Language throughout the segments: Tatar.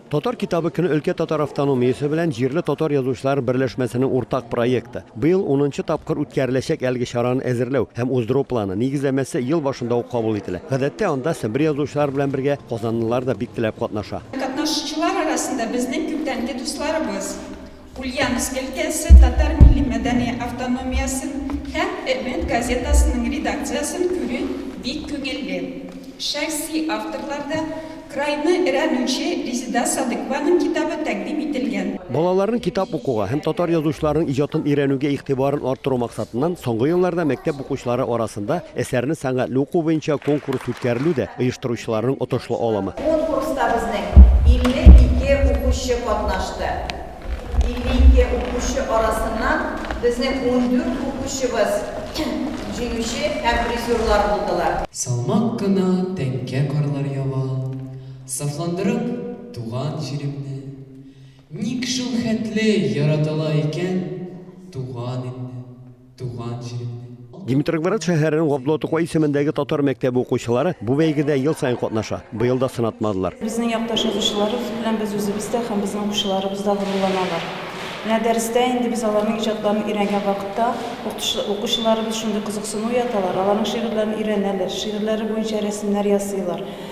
Татар китабы көне өлкә татар автономиясе белән җирле татар язучылар берләшмәсенең уртак проекты. Быел унынчы тапкыр үткәреләчәк әлеге чараны әзерләү һәм уздыру планы, нигезләмәсе ел башында ук кабул ителә. Гадәттә, анда Себер язучылар белән бергә казанлылар да бик теләп катнаша. Катнашучылар арасында безнең күптәнге дусларыбыз, Ульяновск өлкәсе татар милли-мәдәни автономиясен һәм Өмет газетасының редакциясен күрү бик күңелле. Шәхси авторларда крайны өрәнүче Резеда Садыкованың китабы тәкъдим ителгән. Балаларның китап укуга һәм татар язучыларының иҗатын өйрәнүгә игътибарын арттыру максатыннан соңгы елларда мәктәп укучылары арасында әсәрне сәнгатьле уку буенча конкурс үткәрелү дә оештыручыларның отышлы алымы. Конкурста безнең 52 укучы катнашты. 52 укучы арасыннан безнең ундүрт укучыбыз җиңүче һәм призерлар булдылар. Салмак кына тәңкә карлар ява, Сафландырып туган җиремне. Ник шулхәтле яратыла икән Туган илне? Туган җиремне. Димитрогварат шәһәренең Габдулла Тукай исемендәге татар мәктәбе укучылары бу бәйгедә ел саен катнаша. Быел да сынатмадылар. Безнең якташ язучыларыбыз белән без үзебез дә һәм безнең укучыларыбыз да горурланалар. Менә дәрестә инде без аларның иҗатларын өйрәнгән вакытта укучыларыбыз шундый кызыксыну уяталар, аларның шигырьләрен өйрәнәләр, шигырьләре буенча рәсемнәр ясыйлар.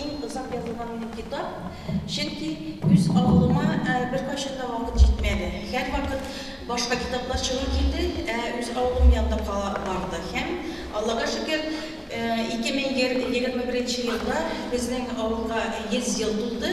иң озак язылган минем китап, чөнки үз авылыма беркайчан да вакыт җитмәде. Һәрвакыт башка китаплар чыгу килде, ә үз авылым янда кала барды. Һәм, Аллага шөкер, 2021 елда безнең авылга 100 ел тулды.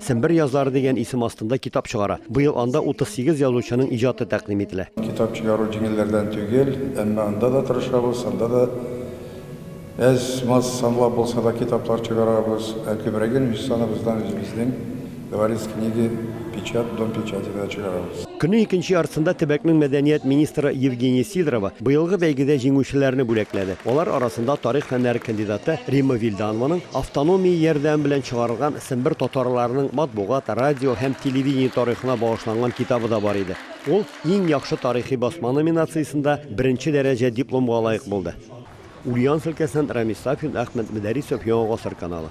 Сембер язлары дигән исем астында китап чыгара. Быел анда 38 язучының иҗаты тәкъдим ителә. Китап чыгару җиңелләрдән түгел, әмма анда да тырышабыз, анда да әз-маз санлап булса да китаплар чыгарабыз, ә күбрәген үз саныбыздан үзебезнең Говорит книги, Печат, Дом печати да чыгарабыз. Көннең икенче яртысында төбәкнең мәдәният министры Евгения Сидорова быелгы бәйгедә җиңүчеләрне бүләкләде. Алар арасында тарих фәннәре кандидаты Римма Вильданованың автономия ярдәме белән чыгарылган Сембер татарларының матбугат, радио һәм телевидение тарихына багышланган китабы да бар иде. Ул Иң яхшы тарихи басма номинациясендә беренче дәрәҗә дипломга лаек булды. Ульяновск өлкәсеннән Рамис Сафин, Әхмәт Мөдәрисов, Яңа гасыр каналы.